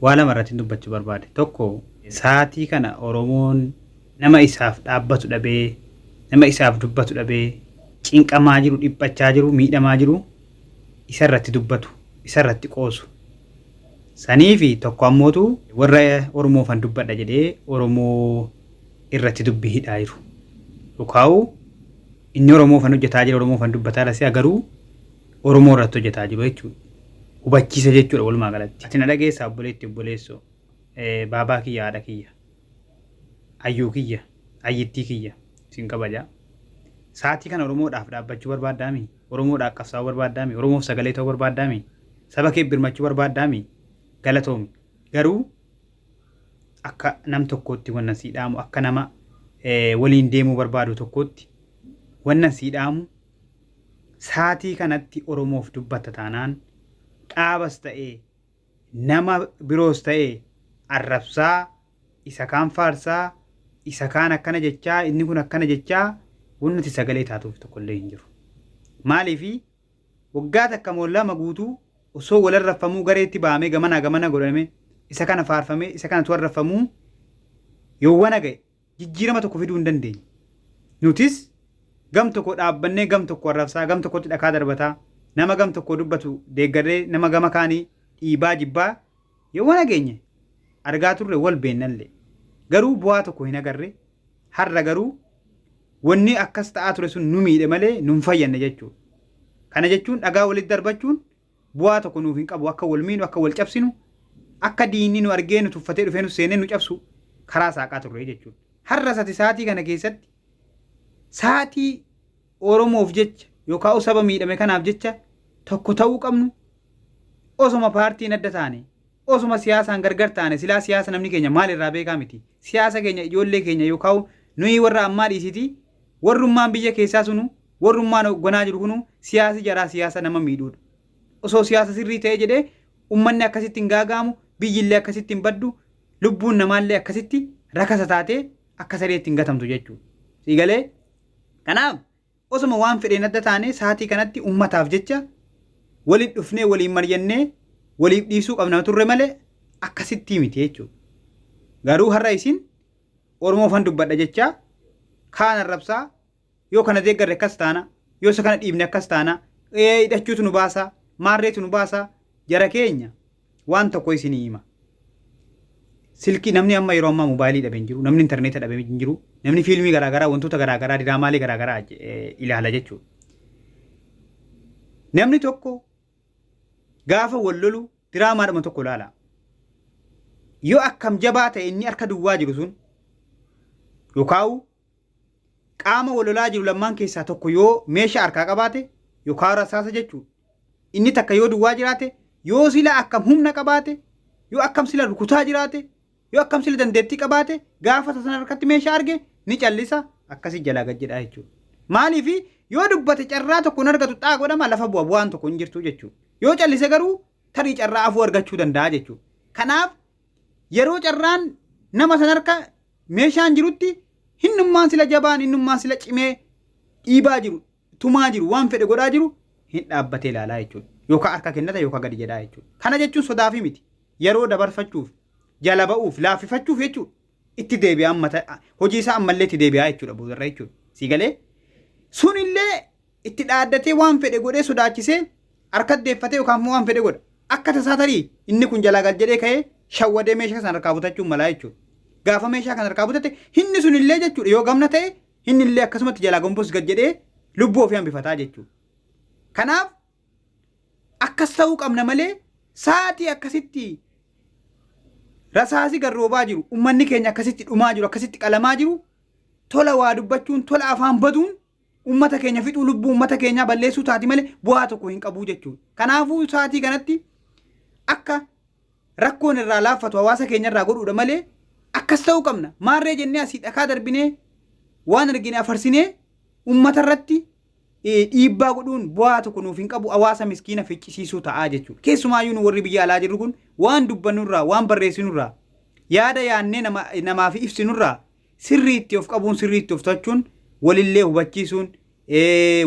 Waa lama irrattin dubbachuu barbaade. Tokko sa'aatii kana Oromoon nama isaaf dhaabbatu dhabee, nama isaaf dubbatu dhabee cinqamaa jiru, dhiphachaa jiru, miidhamaa jiru isa irratti dubbatu, isa irratti qoosu. Sanii fi tokko ammootu warra Oromoofan dubbadha jedhee Oromoo irratti dubbii hidhaa jiru. Dhukaa'u inni Oromoofan hojjetaa jira, Oromoofan dubbataa lasee agaruu Oromoo irratti hojjetaa jiru jechuudha. Hubachiisa jechuudha walumaa galatti. Ati na dhageessaa obboleetti obboleessoo. Baabaa kiyya haadha kiyya. Ayyuu kiyya ayyittii kiyya sin kabaja. Saatii kana Oromoodhaaf dhaabbachuu barbaaddaami? Oromoodhaaf qabsaa'uu barbaaddaami? Oromoof sagalee ta'uu barbaaddaami? Saba kee birmachuu barbaaddaami? Galatoomi. Garuu akka nam tokkootti wannan sii dhaamu akka nama waliin deemuu barbaadu tokkootti wannan sii dhaamu Saatii kanatti Oromoof dubbatta taanaan dhaabas ta'ee nama biroos ta'ee arrabsaa, isa kaan faarsaa, isa kaan akkana jechaa, inni kun akkana jechaa wanni ati sagalee taatuuf tokko illee hin jiru. Maaliif waggaa takka moo lama guutuu osoo wal arrabfamuu gareetti bahamee gamanaa gamana godhamee isa kana faarfamee isa kanatu arrabfamuu yowwana ga'e jijjiirama tokko fiduu hin dandeenye. Nutis gam tokko dhaabbannee gam tokko arrabsaa, gam tokkotti dhakaa darbataa, nama gam tokko dubbatu deeggarree nama gama kaanii dhiibaa jibbaa yowana geenye argaa turre wal beennallee. Garuu bu'aa tokko hin agarre. Har'a garuu wanni akkas ta'aa ture sun nu miidhe malee nu hin fayyanne jechuudha. Kana jechuun dhagaa walitti darbachuun bu'aa tokko nuuf hin qabu akka wal miinu akka wal cabsinu akka diinni nu argee nu tuffatee dhufee nu seenee nu cabsu karaa saaqaa turre jechuudha. Har'as ati saatii kana keessatti saatii Oromoof jecha yookaan saba miidhame kanaaf jecha tokko ta'uu qabnu osoma paartiin adda taane osoma siyaasaan gargar taane silaa siyaasa namni keenya maal irraa beekaa miti siyaasa keenya ijoollee keenya yookaan nuyi warra ammaa dhiisiti warrummaan biyya keessaa sunu Warrummaan hoogganaa jiru kunuu siyaasi jaraa siyaasa nama miidhuudha. Osoo siyaasa sirrii ta'ee jedhee ummanni akkasitti hin gaaga'amu, biyyi illee akkasitti hin baddu, lubbuun namaa illee akkasitti rakasa taatee akka sareetti hin gatamtu jechuudha. Sii galee? Kanaaf osoma waan fedheen adda taanee saatii kanatti ummataaf jecha walitti dhufnee waliin maryannee waliif dhiisuu qabna turre malee akkasittii miti jechuudha. Garuu har'a isin Oromoofan dubbadha jechaa kaan arrabsaa Yoo kana deeggarre akkas taana, yoo isa kana dhiibne akkas taana, ee hidhachuutu nu baasa, maarreetu nu baasa, jara keenya waan tokko isinii hima. Silkii namni amma yeroo ammaa moobaayilii dhabe hin jiru, namni intarneeta dhabe hin jiru, namni fiilmii garaagaraa, wantoota garaagaraa, diraamaalee garaagaraa je- eh, ilaala jechuudha. Namni tokko gaafa wal lolu diraamaadhuma tokko ilaala. Yoo akkam jabaa ta'e inni harka duwwaa jiru sun yookaan Qaama wal lolaa jiru lammaan keessaa tokko yoo meesha harkaa qabaate yookaan rasaasa jechuudha. Inni takka yoo duwwaa jiraate yoo sila akkam humna qabaate yoo akkam sila rukutaa jiraate yoo akkam sila dandeettii qabaate gaafa sana harkatti meeshaa arge ni callisa akkasii jalaa gad jedhaa jechuudha. Maaliif yoo dubbate carraa tokko hin argatu xaa godhama lafa bu'a bu'aan tokko hin jirtu jechuudha. Yoo callise garuu tarii carraa afuu argachuu danda'a jechuudha. Kanaaf yeroo carraan nama sana harka Meeshaan jirutti hinnummaan sila jabaan hinnummaan sila cimee dhiibaa jiru, tumaa jiru, waan fedhe godhaa jiru hin dhaabbatee ilaalaa jechuudha. Yookaa harka kennata yookaa gadi jedhaa jechuudha. Kana jechuun sodaafii miti. Yeroo dabarfachuuf, jala ba'uuf, laaffifachuuf jechuudha. Itti deebi'a amma hojii isaa ammallee itti deebi'aa jechuudha boodarra jechuudha. Sii galee? Sunillee Itti dhaaddatee waan fedhe godhee sodaachisee harkatti deeffatee yookaan immoo waan fedhe godha. Akka tasaa tarii inni kun jalaa gal jedhee ka'ee shawwadee meeshaa sana harkaa butachuun malaa jechuudha. Gaafa meeshaa kana harkaa butate inni sun illee jechuudha yoo gamna ta'e inni illee akkasumatti jalaa gombos gad jedhee lubbuu ofii hambifataa jechuudha. Kanaaf akkas ta'uu qabna malee sa'aatii akkasitti rasaasi garroobaa jiru ummanni keenya akkasitti dhumaa jiru akkasitti qalamaa jiru tola waa dubbachuun tola afaan baduun ummata keenya fixuu lubbuu ummata keenyaa balleessuu taati malee bu'aa tokko hin qabuu jechuudha. Kanaafuu sa'aatii kanatti akka rakkoon irraa laaffatu hawaasa keenya irraa godhuudha malee akkas ta'uu qabna. Maarree jennee asii dhakaa darbinee waan argine afarsinee ummata irratti eh, dhiibbaa godhuun bu'aa tokko nuuf hin qabu hawaasa miskiina ficcisiisuu ta'aa jechuudha. Keessumaayyuu nu warri biyya alaa jirru kun waan dubbannurraa waan barreessinurraa yaada yaannee nama, namaaf ibsinurraa Sirrii itti of qabuun sirrii itti of to'achuun walillee hubachiisuun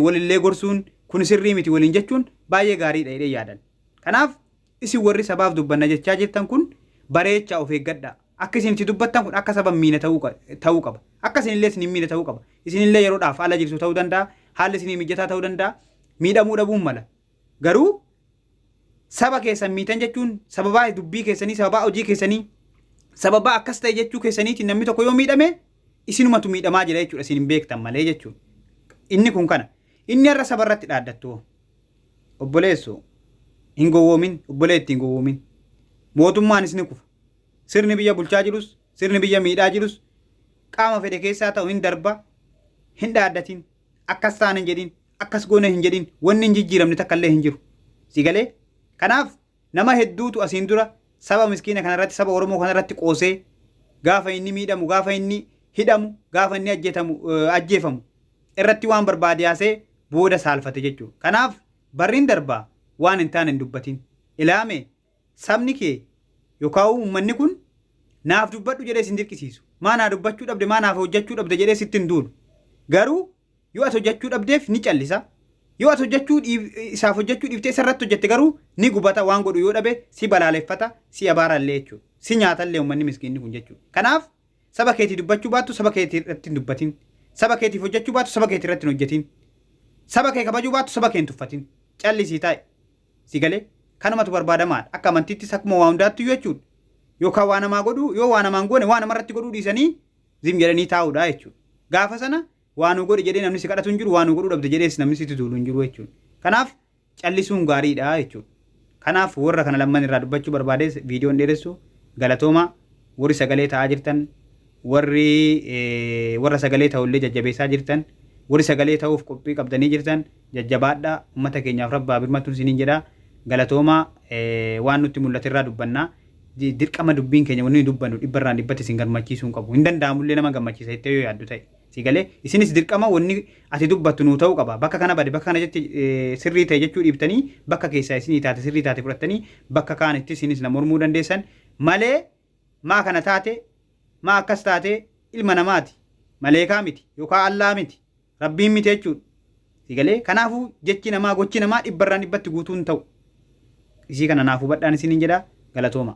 walillee gorsuun kun sirrii miti waliin jechuun baay'ee gaariidha jedhee yaadan. Kanaaf isin warri sabaaf dubbanna jechaa jirtan kun bareechaa of eeggadhaa. Akka isin itti dubbattan kun akka saba miina ta'uu qaba. Akka isinillee isin miina ta'uu qaba. Isinillee yeroodhaaf ala jirtu ta'uu danda'a. Haalli isinii mijataa ta'uu danda'a. Miidhamuu dhabuun mala. Garuu saba keessan miitan jechuun sababaa dubbii keessanii, sababaa hojii keessanii, sababaa akkas ta'e jechuu keessaniitiin namni tokko yoo miidhame isinumatu miidhamaa jira jechuudha isin hin beektan malee jechuudha. Inni kun kana. Inni har'a saba irratti dhaaddattu hoo? Obboleessu hin gowwoomin, obboleetti hin gowwoomin. Mootummaanis ni kufa. Sirni biyya bulchaa jirus, sirni biyya miidhaa jirus qaama fedhe keessaa ta'u hin darba, hin dhaaddatin, akkas taana hin jedhin. akkas goona hin jedhin wanni hin jijjiiramne takka illee hin jiru si galee kanaaf nama hedduutu asiin dura saba miskiina kana irratti saba oromoo kana irratti qoosee gaafa inni miidhamu gaafa inni hidhamu gaafa inni ajjeetamu eh, ajjeefamu irratti waan barbaade haasee booda saalfate jechuudha kanaaf barriin darbaa waan hin taane hin dubbatin ilaame Sabni kee yookaan uummanni kun naaf dubbadhu jedhee sin dirqisiisu. Maa naa dubbachuu dhabde, maa naaf hojjachuu dhabde jedhee sitti hin duulu. Garuu yoo ati hojjachuu dhabdeef ni callisa. Yoo ati hojjachuu dhiif- isaaf hojjachuu dhiiftee isa irratti hojjette garuu ni gubata waan godhu yoo dhabe si balaaleffata, si abaara illee jechuudha. Si nyaata illee uummanni miskiinni kun jechuudha. Kanaaf saba keetii dubbachuu baattu saba keetii irratti hin dubbatin. Saba keetiif hojjachuu baattu saba keetii irratti hin hojjetin. Saba kee kabajuu baattu saba kee hin tuffatin. Callisii taa'i. Si galee? Kanumatu barbaadamaadha. Akka amantiittis akkuma waa hundaattiyyuu jechuudha. Yookaan waa namaa godhuu, yoo waa namaa hin goone waa namarratti godhuu dhiisanii zim jedhanii taa'uudha jechuudha. Gaafa sana waa nuu godhi jedhee namni si kadhatu hin jiru, waa nuu godhuu dhabde jedhees namni sitti duulu hin jiru jechuudha. Kanaaf callisuun gaariidha jechuudha. Kanaaf warra kana lamman irraa dubbachuu barbaadees viidiyoo hin dheeressu. Galatoomaa. Warri sagalee taa'aa jirtan Warri warra sagalee ta'u illee jajjabeessaa jirtan, warri sagalee ta'uuf qophii qabdanii jirtan jajjabaadhaa, ummata keenyaaf Rabbi haa birmatu isiniin jedha. Galatoomaa waan nutti mul'ate irraa dubbanna. Dirqama dubbiin keenya wanni nuyi dubbannu dhibba irraan dhibbatti isin gammachiisuu hin qabu. Hin danda'amu illee nama gammachiisa jettee yoo yaaddu ta'e. Sii galee? Isinis dirqama wanni ati dubbattu nuu ta'uu qaba. Bakka kana bade bakka kana jette sirrii ta'e jechuu dhiiftanii bakka keessaa isinii taate sirrii taate fudhattanii bakka kaanittis isinis na mormuu dandeessan malee Maa kana taate maa akkas taate ilma namaati maleekaa miti yokaa Allaa miti rabbiin miti jechuudha si galee kanaafu jechi namaa gochi namaa dhibbarraan dhibbatti guutuu hin ta'u isii kana naaf hubadhaan isiniin jedha galatooma.